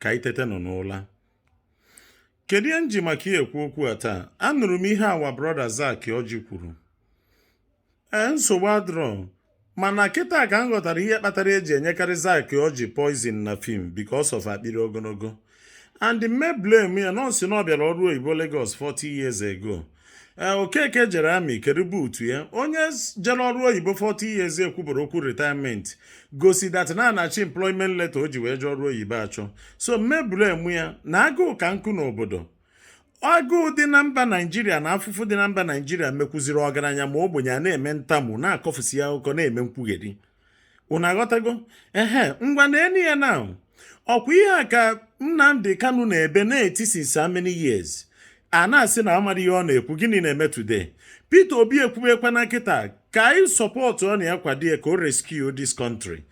ka anyị tetanụ n'ụla kedu ihe m ji maka ya ekwu okwu a taa anụrụ m ihe our brother Zack Orji kwuru ee nsogbu adrọ mana kịta ka m ghọtara ihe kpatara eji enyekarị Zack Orji poison na film because of akpịrị ogologo and m ma-eblame ya na ọ sị na ọ bịara ọrụ oyibo Lagos 40 years ago ee eh, Okeke jere army kedu boot ya onye jere ọrụ oyibo 40 years ekwubero okwu retirement gosi that na a na-achọ employment letter o ji wee jee ọrụ oyibo achọ so m ma-eblame ya na agụụ ka nkụ n'obodo agụụ dị na mba naijiria na afụfụ dị na mba naijiria mekwuziri ọgaranya ma ogbenye a na-eme ntamu na-akọfusi ya akụkọ na-eme nkwugheri unu aghọtago ehe ngwa nenụ ya na ọkwa ihe a ka Nnamdi Kanu na-ebe na-eti since how many years a na-asị na amarọ ihe ọ na-ekwu gịnị na-eme today Peter Obi ekwubekwa na kịta ka anyị sọpọtụọnụ ya kwado ya ka o rescue this country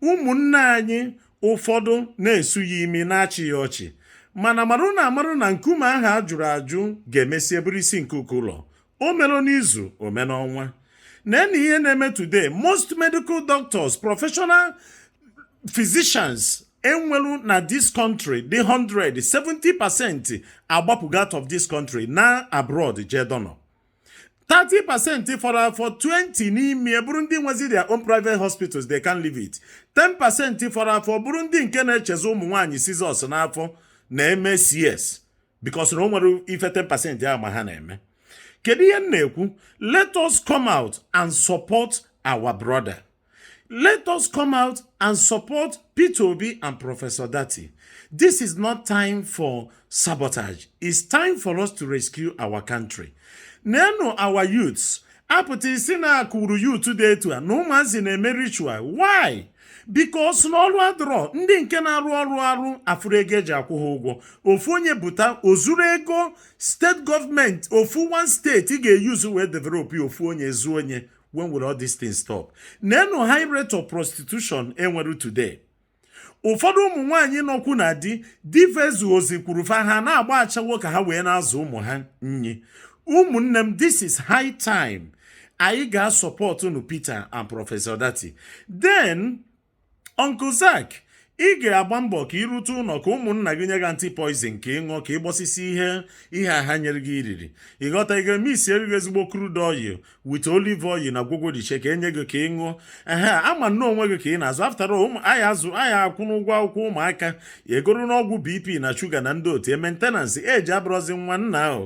ụmụnne anyị ụfọdụ na-esu ya imi na-achị ya ọchị mana marụnụ amarụ na nkume ahụ a jụrụ ajụ ga-emesi bụrụ isi nke ụlọ o mere n'izu o mere n'ọnwa nenụ ihe na-eme today most medical doctors professional physicians enwelu na this country dị 100 70 percent agbapụgo out of this country na abroad jee dọnọ 30 percent fọrọ afọ 20 n'ime bụrụ ndị nwezi their own private hospitals they can't leave it 10 percent fọrọ afọ bụrụ ndị nke na-echezọ ụmụ nwaanyị scissors n'afọ na-eme cs because na o nwerọ ife 10% a ma ha na-eme kedu ihe m na-ekwu let us come out and support our brother let us come out and support Peter Obi and Professor Datti this is not time for sabotage it's time for us to rescue our country nenụ our youths apụta isi na-akụwuru youth dị etu a na ụmụazị na-eme ritual why because na ọrụ adịrọ ndị nke na-arụ ọrụ arụ afụrọ ego eji akwụ ha ụgwọ ofu onye pụta o zuru ego state government ofu one state ga-eyuzu wee develop ofu onye ezuo nya when will all these things stop nenụ high rate of prostitution enwere today ụfọdụ ụmụ nwaanyị nọkwu na di di fa ezuzikwuro fa ha na-agba ashawo ka ha wee na-azụ ụmụ ha nni ụmụnne m this is high time anyị ga-asọpọtụnụ Peter and Professor Datti then Uncle Zack ị ga-agba mbọ ka i rute ụlọ ka ụmụnna gị nye gị anti poison ka ị ṅụọ ka ị gbọsịsị ihe ihe a ha nyere gị i riri ị ghọta a ga-emixiri gị ezigbo crude oil with olive oil na ngwọngwọ dị iche ka e nye gị ka ị ṅụọ ehe a ma na onwe gị ka ị na-azụ after all ụmụ a ya-azụ a ya-akwụnụ ụgwọ akwụkwọ ụmụaka egoronụ ọgwụ BP na sugar na ndị otu e maintenance eji abụrụzi nwa nna ahụ